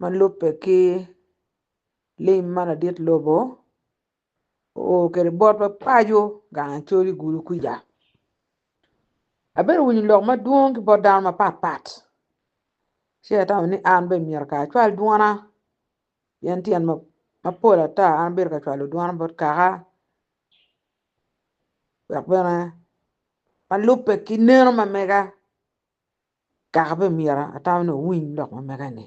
Ma lubbe ki lim ma ladit lobo oo kwede botwa paco gang acol i gulu kwija. Abedo winyo lok madwong ki bot dano mapatpat ci atamo ni an bene myero kara acwal dwona pien tyen mapol ata an abedo ka cwalo dwona bot kaka dok bene ma lubbe ki neno ma mega. Kaka bene myero atama ni owiny lok ma mege-ni.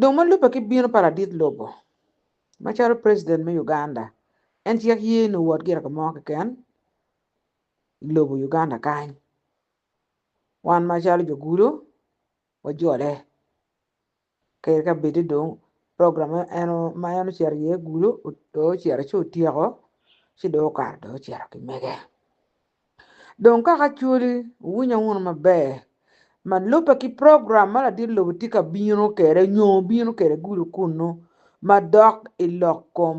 Dong ma lubbe ki bino pa ladit lobo macalo president me Uganda, en cek ye ni owot gire ka mo keken i lobo Uganda kany. Wan macalo jo gudo wajole Kare ka bedi dong program ma en ma en ocito iye gulu dong ocito ci otyeko ci dong okato dong ocito ki mege. Dong kaka cwali wuwinya wunu maber ma lubbe ki program ma ladit lobo tye ka bino kwede nyo bino kwede gulu kunnu ma dok i lok kom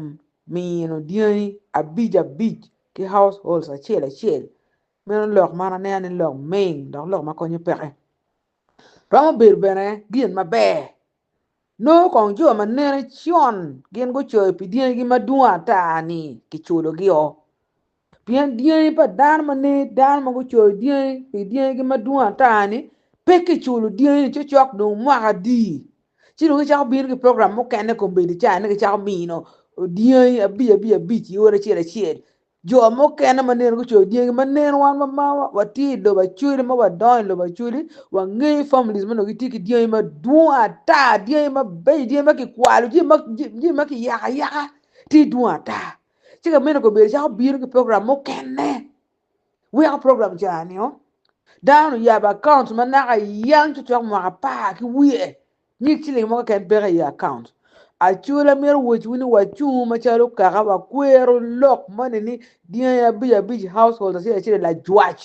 mino dyangi abic abic ki house holds acel acel meno lok man aneno ni lok ming dok lok ma konyo peke. romo bedo bene gin maber. Nongo kong jo ma nene con gin gucoyo pi dyangi madwong ata ni kiculogio. Pien dyangi pa dano ma nene dano ma gucoyo dyangi pi dyangi madwong ata ni pe kiculo dyangi ni cocok dong mwaka adi ci dong gicako bino ki program mukene kombeddi ca ni gicako mino dyangi abic abic abic i ot acel acel. Jo mukene ma nino gucoyo dyangi ma neno wan ma ma watye i lobo Acholi ma wadongo i lobo Acholi wangeyo families ma nongo gitye ki dyangi madwong ata dyangi mabeco dyangi ma kikwalo jami ma jami ma kiyako ayaka tye dwong ata ci ka mene kobedo calo obino ki program mukene weko program ca nio dano oyabo akaunt ma naka yang cocok mwaka apar ki wiye Nyig ciling mo keken peke i account. Acwal amito wacciwu ni wacungu macalo kaka wakwero lok moni ni dyangi abic abic household acel acel lajwac.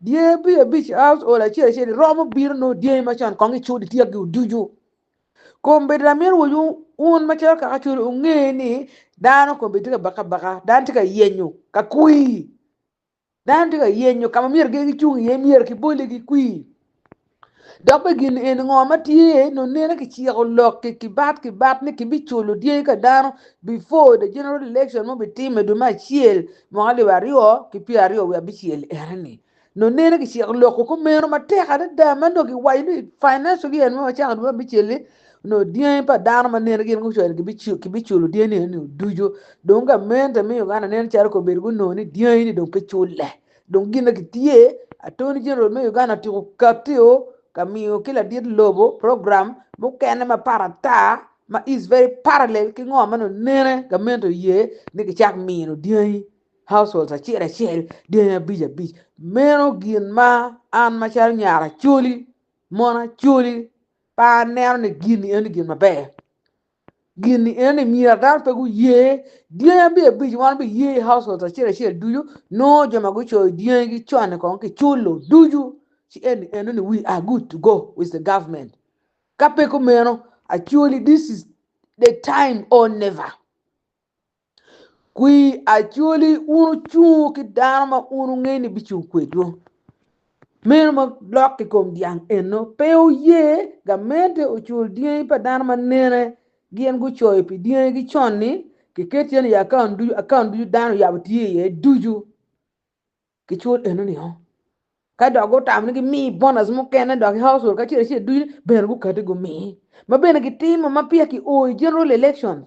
Dyangi abic abic household acel acel romo bino nongo dyangi macon kong icud ityekgi oducu. Kombeddi amito wacwu wun macalo kaka acwal unge ni dano kombeddi tye ka baka baka, dano tye ka yenyo ka kwii. Dano tye ka yenyo ka ma myero gin gicung iye myero kibolle gikwir dok bene gin eni ngo ma tye iye nongo nene kiciko lok kibat kibat ni kibiculo dyangi ka dano before the general election ma obitime i dwe me acel mwaka alip aryo ki pyera aryo wiye abicel enoni nongo nene kiciko lok kumeno matek adada ma nongo kiwaco ni financial year ma wacako i dwe me abicel-li. Onongo dyangi pa dano ma nene gin gucwalo kibiculo dyangi eno ducu. Dong gamente me Uganda nen calo kong obedo gunongo ni dyangi ni dong pe culle. Dong gin na gitye, Attorney General me Uganda otiko katio ka miyo ki ladit lobo program mukene mapat ata ma is very parallel ki ngo ma nongo nene gamente oye ni gicak mino dyangi, households, acel acel dyangi abic abic. Meno gin ma an macalo nyar Acholi, mon Acholi, pe aneno ni gin eni gin maber. Gin eni myero dano pe guye, dyangi abye abic wan biye i house hold acel acel ducu, nongo jo ma gucoyo dyangi gi con-ni kong kiculo ducu ci eni eno ni we are good to go with the government. Ka pe kumeno actually this is the time or never. Kwir Acholi un ocungo ki dano ma un wungeyo ni bicung kwedwu. Meno ma lok i kom dyang eno pe oye gamente ocul dyangi pa dano ma nene gin gucoyo pi dyangigi con-ni kiket iye ni i akaun ducu akaun ducu dano oyabo tye iye ducu kicul enoni-o ka dok gutamo ni gimi bonac mukene dok ki haucol kacel acel ducu bene gukati gumi ma bene gitimo ma peya kio i general election.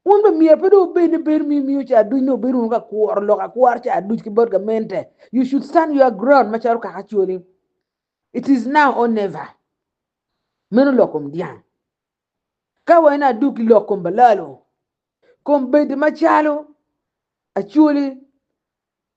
Wun bene myero pe dong wubed ni bedo ma imiyo ca aduc nongo bedo wunu ka kworo lok akwora ca aduc ki bot gamente. You should stand your ground macalo kaka acoli. It is now or never. Meno lok kom dyang. Ka wa en aduk ki lok kom balalo, kom bedi macalo acoli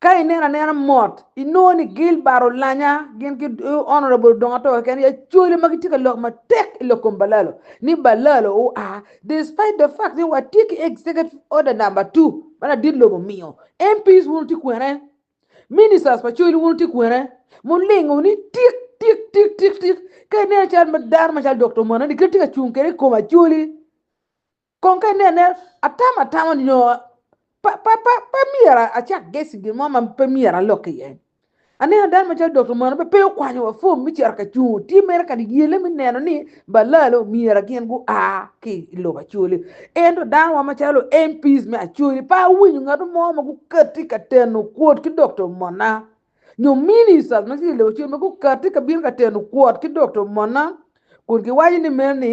Ka ineno anena mot, inongo ni Gilbert Olanya gin ki Honourable Odongo-Ator keken aye cwalo ma gitye ka lok matek i lok kom Balalo ni Balalo oa despite the fact ni watye ki Executive Order Number Two ma ladit lobo omiyo. MPs wun wutye kwene? Ministers pa coc wun wutye kwene? Mulingo ni tik tik tik tik tik. Ka ineno cal ma dano macalo Dokta Omana-ni kit ma tye ka cung kwede i kom Acholi, Kong ka inene, atamo atamo nyo pe myero acak gec i gin mo ma pe myero alok iye. Aneno dano macalo Dokta Mwanube pe okwanyowa fom me cito ka cungo tye mere kadi yelle me neno ni balalo omyera gin gua ki i lobo Acholi. Ento danowa macalo MPs me Acholi pe awinyo ngat mo ma gukatti ka teno kwot ki Dokta Omona nyo Ministers ma tye i lobo Acholi ma gukatti ka bino ka teno kwot ki Dokta Omona kun giwaco ni mere ni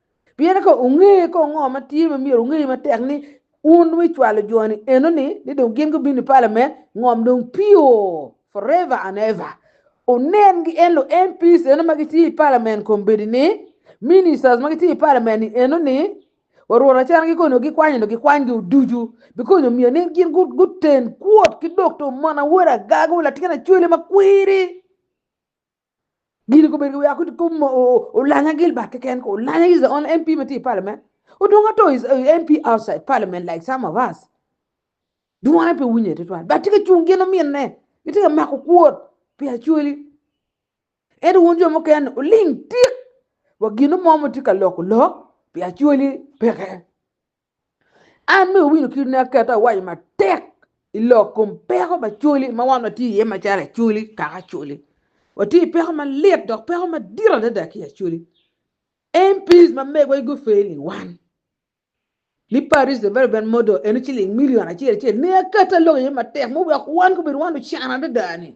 Pien ka wunge kong ngo ma tye ma myero wunge matek ni wun wi cwalo joni eno ni, ni dong gin gubino i pala me ngom dong pio forever and ever. Wunen gi en lu MPs eno ma gitye i parliament kombeddi ni, ministers ma gitye i parliament ni eno ni, wa rwot acana gi koni wa gikwany eno gikwany gi oducu because omyero ni gin gu guten kwot ki doctor mon awoda agaga wa latin acwele ma kwiri. Gin kobedo ki weko kom olanya Gilbert keken ko olanya is the only MP ma tye i parliament odong ato is MP outside parliament like some of us dwone pe wunye tutwal but tye ka cung gin ominne gitye ka mako kwot pi Acholi ento wun jo mukene uling tik wa gin mo ma tye ka loko lok pi Acholi peke. An me wino kit ne aketo awaco matek i lok kom peko ma coli ma wan watye iye macalo acoli kaka acoli watye i peko malit dok peko madit adada ki acoli MPs ma megwa i gufe ni wan ni Paris Development Model eno ciling milion acel acel ne aketo alok iye matek me wek wan kobedo wan lucan adada ni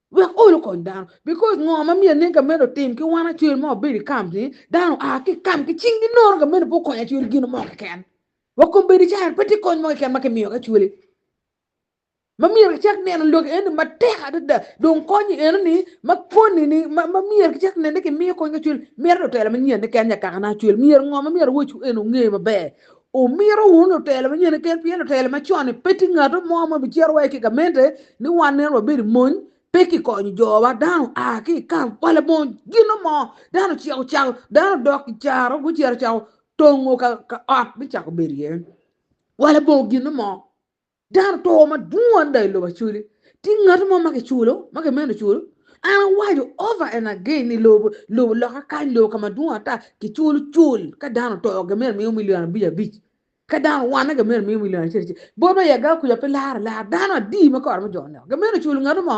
Wek olo kony dano. Because ngo ma myero nen ka meno otim ki wan acwel ma wabedo i camp ni dano aa ki camp ki cing gi nono ka meno pe okonyo acwel i gino mo keken. Wa kombedi caro pe tye kony mo keken ma kimiyo ki acwele. Ma myero ki cak neno loki eni matek adada dong konyi eno ni ma koni ni ma ma myero ki cak nene kimiyo kony ki acwel mito ni otelo manyen ni ken nya kaka na acwel myero ngo ma myero awoc eni onge maber. Wumito wunu lutelo ma nyene keken, pien lutelo ma con-ni pe tye ngatu mo ma bicito wa ki i gamente ni wan nino wabedo i mony, pe kikonyo jowa. Dano a ki i kal kwala mony, gino mo dano ociko cako, dano odok i caro gucito ocako tongo ka ot me cako bedo iye. Kwala bongo gino mo. Dano to madwong adada i lobo Acholi. Tye ngat mo ma kiculo, ma kimeno culo? An awaco over and again ni lobo, lobo loka kany, lobo ka madwong ata kiculo cul. Ka dano oto gimito miyo milion abic abic. Ka dano owanne gimito miyo milion acel acel. Bot ma i Agaba kuca pe laro lar. Dano adi ma kore me jo oneko? Gimeno culo ngatu mo?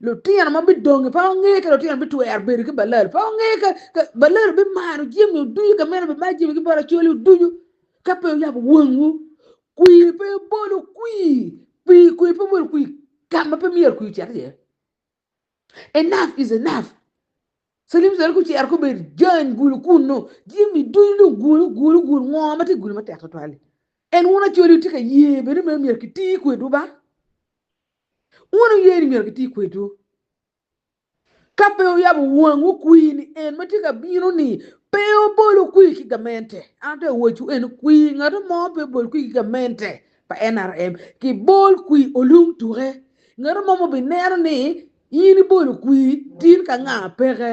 Lutino ma bidongi pe gungeyo ka lutino bitwero bedo ki balal. Pe gungeyo ka, ka balal obimaro jami oducu, ka meno obimaro jami ki bot acoli oducu. Ka pe wuyabo wangwu, kwir pe obol okwi, pi kwir pe obol okwi ka ma pe myero kwir ocit iye. Enough is enough. Salim Saleh kucero kubed jany gulu kunnu, jami ducu dong gul, gul, gul, ngo ma tye gulu matek tutwal-li? En wun acoli wutye ka ye bene me myero kiti kwedwu ba? Wun wuye ni myero giti kwedwu, ka pe wuyabo wangwu kwir ni En ma tye ka bino-ni pe obolo kwir ki gamente. An atwero wacciwu eno, kwir ngatu mo pe obol kwir ki gamente pa NRM, ki bol kwir olung tuke. Ngatu mo ma obineno ni in ibolo kwir tin ka nga peke.